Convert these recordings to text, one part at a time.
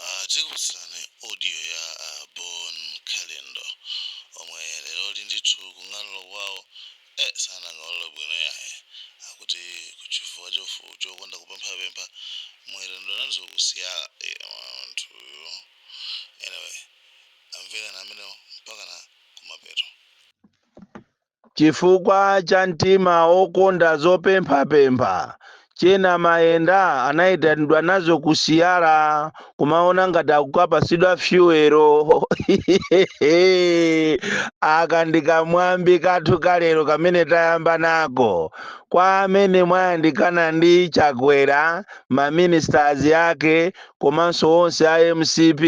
Aaa tikupatseni audio ya a Bon Kalindo omwe leroli ndithu kung'alula kwawo eh sanang'alule bwino yayi akuti chifukwa chokonda kupemphapempha mwaitanidwa nazo ku siwa eh munthuyu anyway amvereni ameneo mpakana kumapeto. Chifukwa cha mtima wokonda zopemphapempha, Chena mayenda anaitanidwa nazo ku siwa kumaona ngati akukapasidwa fyuwelo. Aka ndi kamwambi kathu ka lero kamene tayamba nako. Kwa amene mwayandikana ndi Chakwera, ma ministers ake komanso onse a mcp,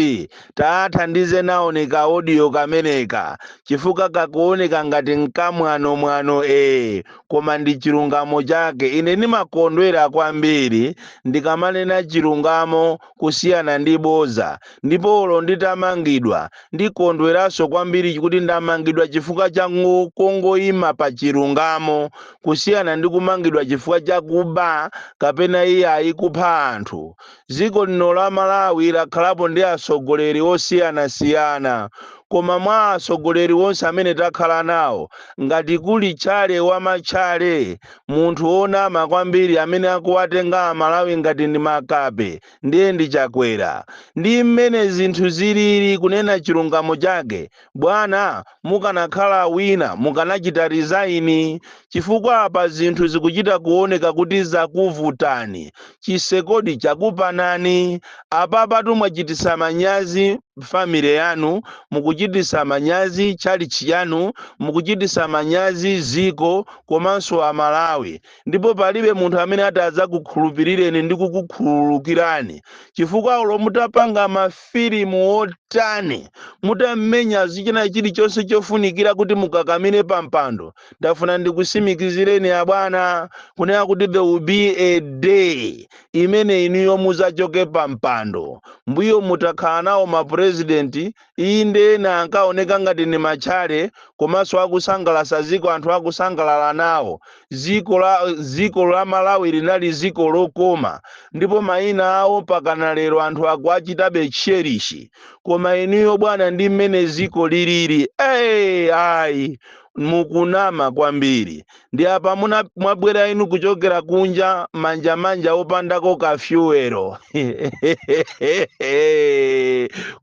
Taathandize naoni ka audio kameneka chifukwa kakuoneka ngati nkamwanomwano ee koma ndi chilungamo chake ine ndimakondwera kwambiri ndikamanena chilungamo kusiyana ndi boza ndipo olo nditamangidwa ndikondweranso kwambiri kuti ndamangidwa chifukwa cha kungoima pa chilungamo kusiyana ndi kumangidwa chifukwa cha kuba kapena iyayi kupha anthu Dziko lino la Malawi lakhalapo ndi atsogoleri osiyanasiyana koma mwa atsogoleri onse amene takhala nawo, ngati kuli tchale wa matchale, munthu wonama kwambiri amene akuwatenga Amalawi ngati ndi makape ndiye ndi Chakwera. Ndi mmene zinthu zilili kunena chilungamo chake. Bwana, mukanakhala wina mukanachita resign chifukwa apa zinthu zikuchita kuoneka kuti zakuvutani, chisekodi chakupanani, apapatu mwachititsa manyazi family yanu, mukuchititsa manyazi tchalitchi yanu, mukuchititsa manyazi ziko komanso a Malawi. ndipo palibe munthu amene atadzakukhulupirireni ndi kukukhululukirani chifukwa olo mutapanga mafilimu otani mutamenya zitchena chilichonse chofunikira kuti mukakamire pa mpando ndafuna ndikusimikizireni abwana kunena kuti there will be a day imene inuyo muzachoke pa mpando mbuyomu takhala nawo mapurezidenti Inde ena ankaoneka ngati ni matchale komanso akusangalasa ziko anthu akusangalala nawo. Ziko la Malawi linali ziko lokoma ndipo maina awo pakana lero anthu akuachitabe cherish. Koma inuyo bwana ndi mmene ziko liliri ee ayi mukunama kwambiri. Ndi apa mwabwera inu kuchokera kunja manja manja opandako ka fyuwero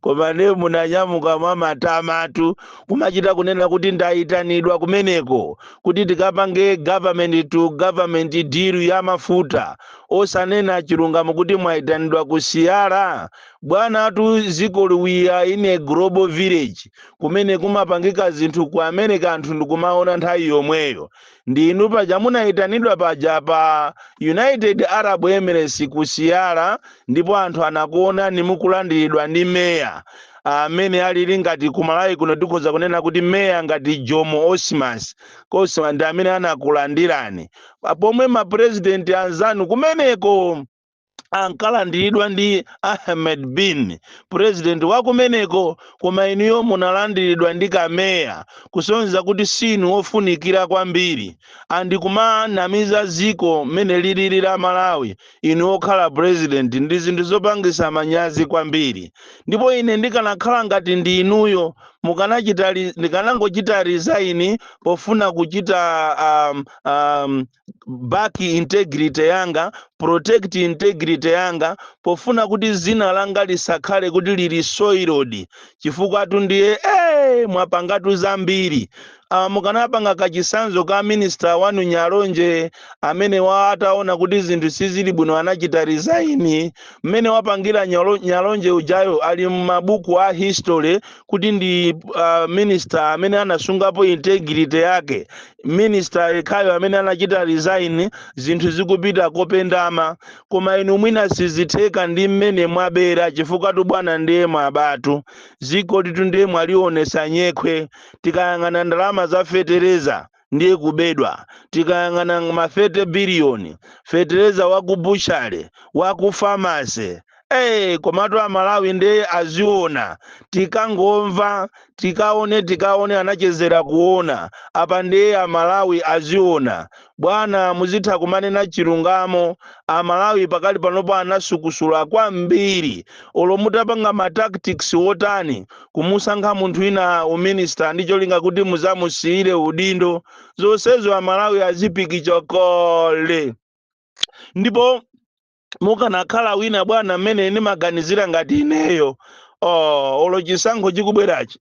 koma nde munanyamuka mwamatamatu kumachita kunena kuti ndayitanidwa kumeneko kuti tikapange government to government deal ya mafuta osanena chilungamo kuti mwayitanidwa ku siyara bwanatu dzikoli we are in a global village kumene kumapangika zinthu ku america anthu ndikumaona nthawi yomweyo ndi inu paja munayitanidwa paja pa united arab emirates ku siyara ndipo anthu anakuonani mukulandiridwa ndi meya amene alili ngati ku malawi kuno tikhoza kunena kuti meya ngati jomo osman osman ndi amene anakulandirani pomwe mapurezidenti anzanu kumeneko ankalandiridwa ndi ahmed bin purezidenti wa kumeneko koma inuyo munalandiridwa ndi kameya kusonyeza kuti si inu wofunikira kwambiri and kumanamiza ziko mmene lilili la malawi inu okhala purezidenti ndi zinthu zopangisa manyazi kwambiri ndipo ine ndikanakhala ngati ndi inuyo ndikanangochita resign pofuna kuchita um, um, back integrity yanga protect integrity yanga pofuna kuti zina langa lisakhale kuti lili soiled chifukwatu ndiye eh mwapangatu zambiri ah, mukanapanga kachisanzo ka minister wanu nyalonje amene wa ataona kuti zinthu sizili bwino anachita resign mmene wapangira nyalonje ujayo ali m'mabuku a history kuti ndi uh, minister amene anasungapo integrity yake minister yekhayo amene anachita resign zinthu zikupita kopendama koma inu mwina sizitheka ndi mmene mwabera chifukwatu bwana ndiye mwabatu zikolitu ndiye mwalionesa nyekhwe tikayang'ana ndalama za fetereza ndiye kubedwa tikayang'ana ma 30 biliyoni fetereza wa ku butchery wa ku pharmacy Hey, komatu amalawi nde aziona tikangomva tikaone tikaone anachezera kuona apa ndiye amalawi aziona bwana muzitha kumanena chilungamo amalawi pakali panopo anasukusula kwambiri olo mutapanga ma tactics otani kumusankha munthu wina uminista ndi cholinga kuti muzamusiyire udindo zonsezo amalawi azipikicha kale ndipo mukanakhala wina bwana mmene ndimaganizira ngati ineyo oh, olo chisankho chikubwerachi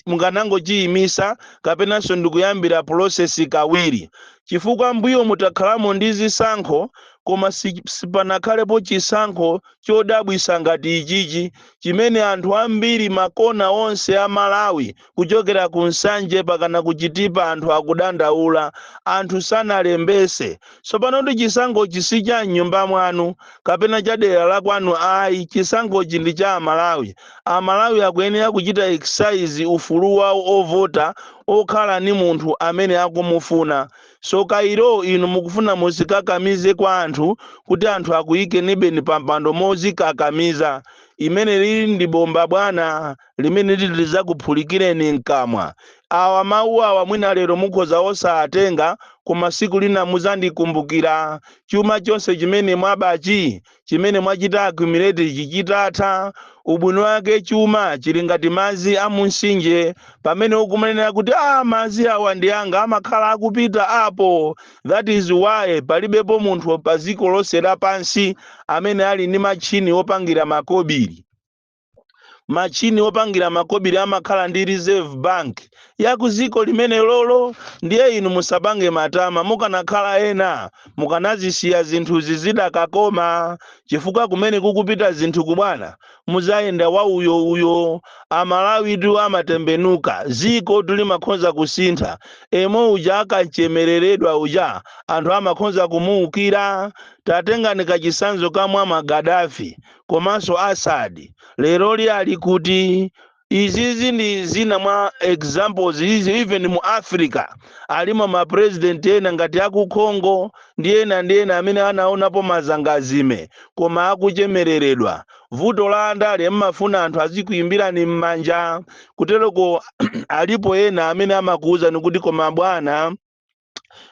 mukanangochiyimisa kapenanso ndikuyambira process kawiri chifukwa mbuyomu takhalamo ndi zisankho koma sipanakhalepo chisankho chodabwisa ngati ichichi chimene anthu ambiri makona onse a malawi kuchokera ku Nsanje pakana ku Chitipa anthu akudandaula, anthu sanalembese. Tsopanotu chisankhochi si cha m'nyumba mwanu kapena cha dera la kwanu ayi, chisankhochi ndi cha Amalawi. Amalawi akuyenera kuchita exercise ufulu wawo ovota okhala ni munthu amene akumufuna. Tsoka ilo inu mukufuna muzikakamize kwa anthu kuti anthu akuyikenibeni pampando mozikakamiza. Imenelili ndi bomba bwana. limene liti lidzakuphulikireni mkamwa. Awa, mawu awa mwina lero mukhoza osawatenga, koma siku lina mudzandikumbukira. Chuma chonse chimene mwabachi, chimene mwachita accumulate ichi chidzatha, ubwino wake chuma chili ngati madzi a mumtsinje. Pamene ukumanira kuti, ah, madzi awa ndi anga, amakhala akupita apo. That is why palibepo munthu pa dziko lonse lapansi amene ali ndi matchini opangira makobiri. machini opangira makobiri amakhala ndi reserve bank ya ku dziko limene lolo ndiye inu musapange matama mukanakhala ena mukanazisiya zinthuzi zidakakoma chifukwa kumene kukupita zinthuku bwana muzayenda wa uyo uyo amalawitu amatembenuka zikotu limakhonza kusintha yemwe uja akachemereredwa uja anthu amakhonza kumuukira tatengani kachisanzo ka muammar gaddafi komanso Assad leroli ali kuti? Izizi ndi zina mwa examples izi even mu Africa alimo ma president ena ngati aku Congo ndi ena ndi ena amene anaonapo mazangazime koma akuchemereredwa. Vuto la andale mmafuna anthu azikuimbirani mmanja kutereko alipo ena amene amakuuzani kuti koma bwana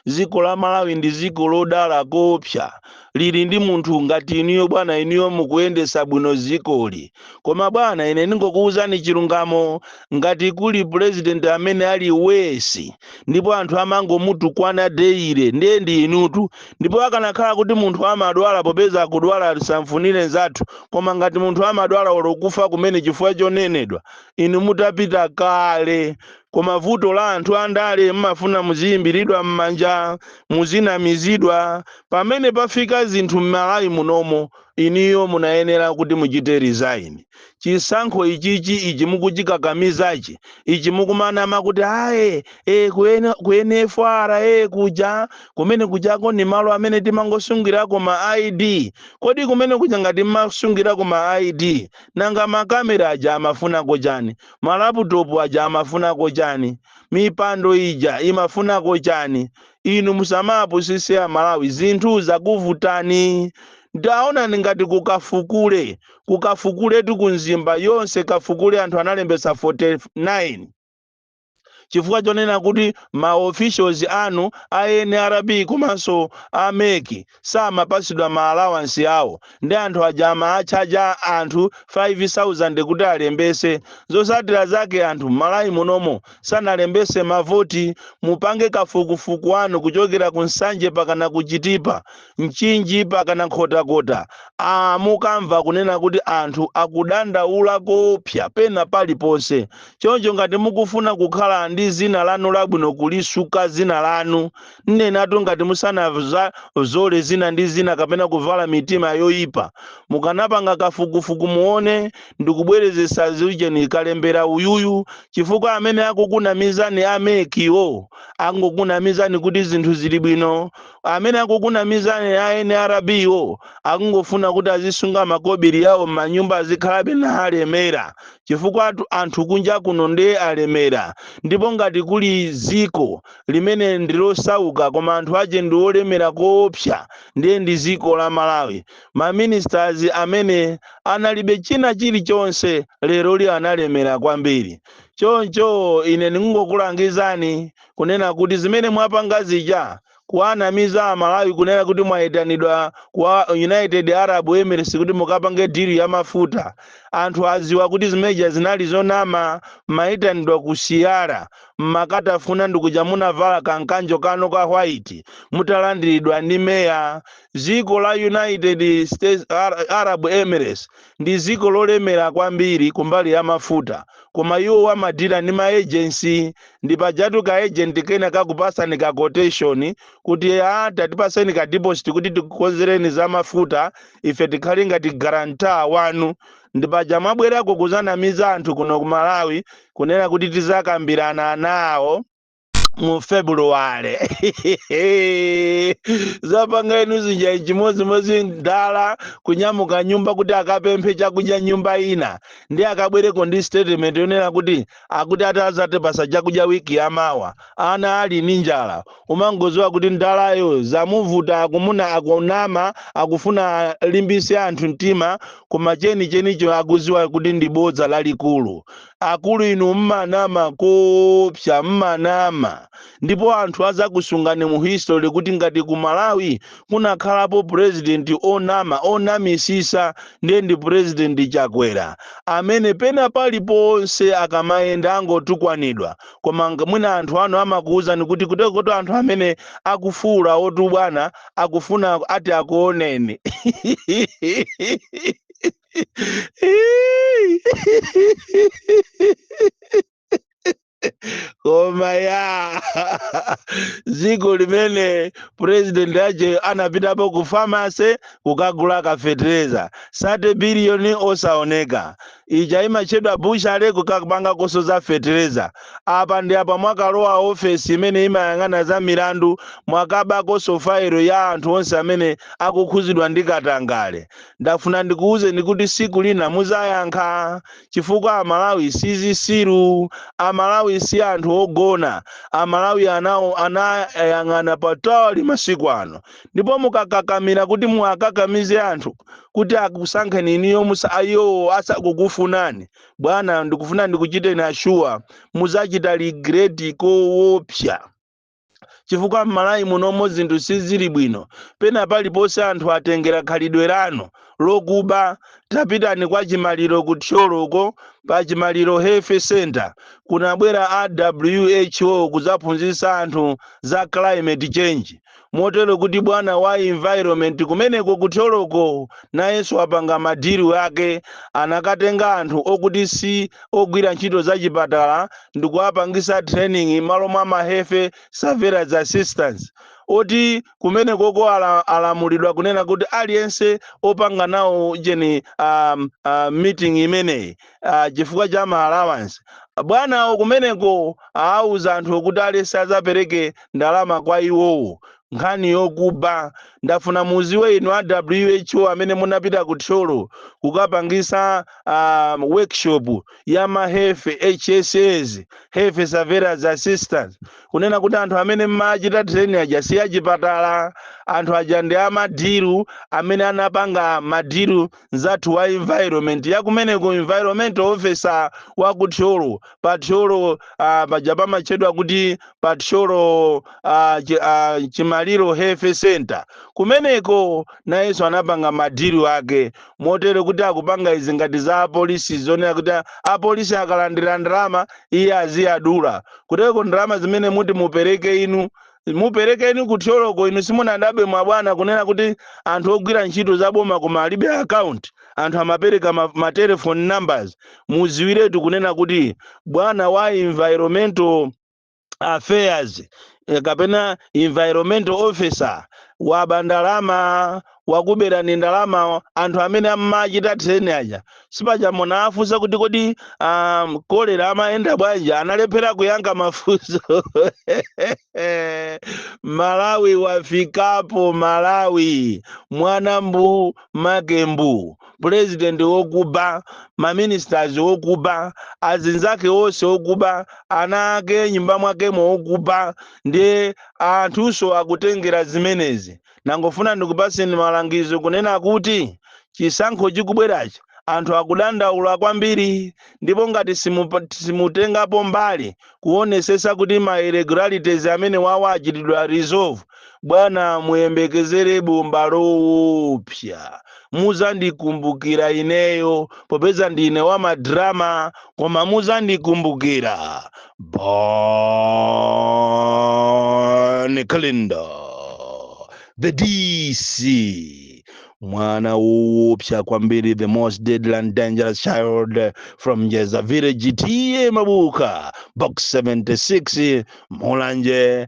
dziko la malawi ndi dziko lodala koopsa lili ndi munthu ngati inuyo bwana inuyo mukuyendesa bwino dzikoli koma bwana ine ndingokuwuzani chilungamo ngati kuli purezidenti amene ali wesi ndipo anthu amangomutukwana deile ndiye ndi inutu ndipo akanakhala kuti munthu amadwala popeza kudwala sitimfunira nzathu koma ngati munthu amadwala olo kufa kumene chifukwa chonenedwa inu mutapita kale koma vuto la anthu andale mmafuna muziyimbiridwa mmanja muzinamizidwa pamene pafika zinthu mmalawi munomo inuyo munayenera kuti muchite resign chisankho ichichi ichi mukuchikakamizachi ichi mukumanama kuti aye e, ku nfra e, kuja kumene kujako ni malo amene timangosungirako ma id kodi kumene kuja ngati mmasungirako ma id nanga makamera aja amafunako chani Ma laputopu aja amafunako chani? Mipando ija imafunako chani? Inu musamawapusise a Malawi zinthu zakuvutani. Taonani ngati kukafukule. Kukafukuletu ku Mzimba yonse kafukule anthu analembesa 49. Chifukwa chonena kuti ma officials anu a nrb komanso a mec samapasidwa ma allowance awo ndi anthu aja amaatchaja anthu 5000 kuti alembese zosatira zake anthu m'Malawi munomo sanalembese mavoti mupange kafukufuku wanu kuchokera ku Nsanje pakana ku Chitipa Mchinji pakana Nkhotakota aa mukamva kunena kuti anthu akudandaula koopsa pena paliponse choncho ngati mukufuna kukhala ndi zina lanu labwino kulisuka zina lanu Nnenatu ngati musanazole zina ndi zina kapena kuvala mitima yoipa mukanapanga kafukufuku muone ndikubwerezesa zujeni kalembera uyuyu chifukwa amene akukunamizani a mec wo angokunamizani kuti zinthu zili bwino amene akukunamizani a nrb wo akungofuna kuti azisunga makobiri yawo mmanyumba azikhalabe na alemera chifukwa anthu kunja kuno nde alemera ndipo ngati kuli ziko limene ndi losauka koma anthu ache ndi olemera koopsa ndiye ndi ziko la Malawi. Ma ministers amene analibe china chili chonse lero lino alemera kwambiri. Choncho ine ndikungokulangizani kunena kuti zimene mwapanga zija kuwanamiza a Malawi kunena kuti mwaitanidwa kwa United Arab Emirates kuti mukapange deal ya mafuta. Anthu aziwa kuti zimeja zinali zonama mwaitanidwa kusiya ra mmakatafuna ndikuja munavala ka nkanjo kanu ka white mutalandiridwa ndi meya dziko la United States Ar- Arab Emirates ndi dziko lolemera kwambiri kumbali ya mafuta koma iwo amadira ndi ma agency ndi pajatu ka agent kena kakupasani ka quotation kuti a tatipaseni ka deposit kuti tikukonzereni za mafuta ife tikhale ngati guarantor wanu ndi paja mwabwerako kuzanamiza anthu kuno ku Malawi kunena kuti tizakambirana nawo mu February zapanga inu zija chimodzimodzi mdala kunyamuka nyumba kuti akapemphe chakudya nyumba ina ndi akabwereko ndi statement yonena kuti akuti azatipasa chakudya wiki yamawa ana ali ndi njala umangoziwa kuti ndalayo zamuvuta akumuna akunama akufuna alimbise anthu mtima koma cheni chenicho akuziwa kuti ndi bodza lalikulu akulu inu mmanama koopsa mmanama ndipo anthu azakusungani mu history kuti ngati ku malawi kunakhalapo president onama onamisisa ndiye ndi president chakwera amene pena paliponse akamayenda angotukwanidwa koma ng, mwina anthu anu amakuuzani kuti kutekotu anthu amene akufuulawotu bwana akufuna ati akuoneni koma ya dziko limene president ache anapitapo ku pharmacy kukagula kafetereza 30 biliyoni osaoneka Ija imatchedwa butchery kukapangakonso za fetereza. Apa ndi apa mwakalowa ofesi imene imayang'ana za milandu mwakabakonso fayilo ya anthu onse amene akukhuzidwa ndi katangale. Ndafuna ndikuuzeni kuti siku lina muzayankha chifukwa amalawi sizisiru. Amalawi si anthu ogona. Amalawi anayang'ana patali masiku ano ndipo mukakakamira kuti muwakakamize anthu. kuti akusankheni inuyo iwowo asakukufunani bwana ndikufuna ndikuchiteni ashuwa muzachita regret kowopsa chifukwa m'malawi munomo zinthu sizili bwino pena paliponse anthu atengera khalidwe lanu lokuba tapitani kwa chimaliro ku thyolo uko pa chimaliro health center kunabwera a who kuzaphunzitsa anthu za climate change motero kuti bwana wa environment kumeneko ku thyoloko nayenso wapanga madilu ake anakatenga anthu okuti si ogwira ntchito za chipatala ndikuwapangisa training malo mwa ma health surveillance assistants oti kumenekoko ala, alamulidwa kunena kuti aliyense opanga nawo cheni um, uh, meeting imeneyi ah, chifukwa cha ma allowance bwana awo kumeneko awuza anthu okuti aliyense azapereke ndalama kwa iwowo nkhani yokuba ndafuna muziwe inu a who amene munapita ku thyolo kukapangisa ah, workshop ya ma health hsa health surveillance assistants kunena kuti anthu amene mmachita training aja si achipatala anthu aja ndi amadilu amene anapanga madilu mzathu wa environment yakumeneko environmental officer wa ku thyolo pa thyolo uh, paja pamatchedwa kuti pa thyolo uh, chi, uh, chimaliro health center kumeneko nayenso anapanga madilu ake motero kuti akupanga izi ngati za apolisi zonena kuti a- apolisi akalandira ndalama iye aziyadula kuteko ndalama zimene muti mupereke inu muperekeni ku thyoloko inu simunadabwe mwa bwana kunena kuti anthu ogwira ntchito za boma koma alibe account anthu amapereka ma, ma telephone numbers mudziwiretu kunena kuti bwana wa environmental affairs eh, kapena environmental officer waba ndalama wakuberani ndalama anthu amene amachita training aja sipaja munawafunsa kuti kodi um, kolera amayenda bwanji analephera kuyankha mafunso malawi wafikapo malawi mwana mbu make mbu pulezidenti wokuba maministers wokuba azinzake onse okuba ana ake nyumba mwakemo okuba ndiye anthunso akutengera zimenezi Ndangofuna ndikupatseni malangizo kunena kuti chisankho chikubwerachi anthu akudandaula kwambiri ndipo ngati simutengapo mbali kuonesesa kuti ma irregularities amene awawa achitidwa resolve bwana muyembekezere bomba loopsa muzandikumbukira ineyo popeza ndine wa madrama koma muzandikumbukira bon kalindo the dc mwana woopsa kwambiri the most deadly and dangerous child from njedza village T/A mabuka box 76 mulanje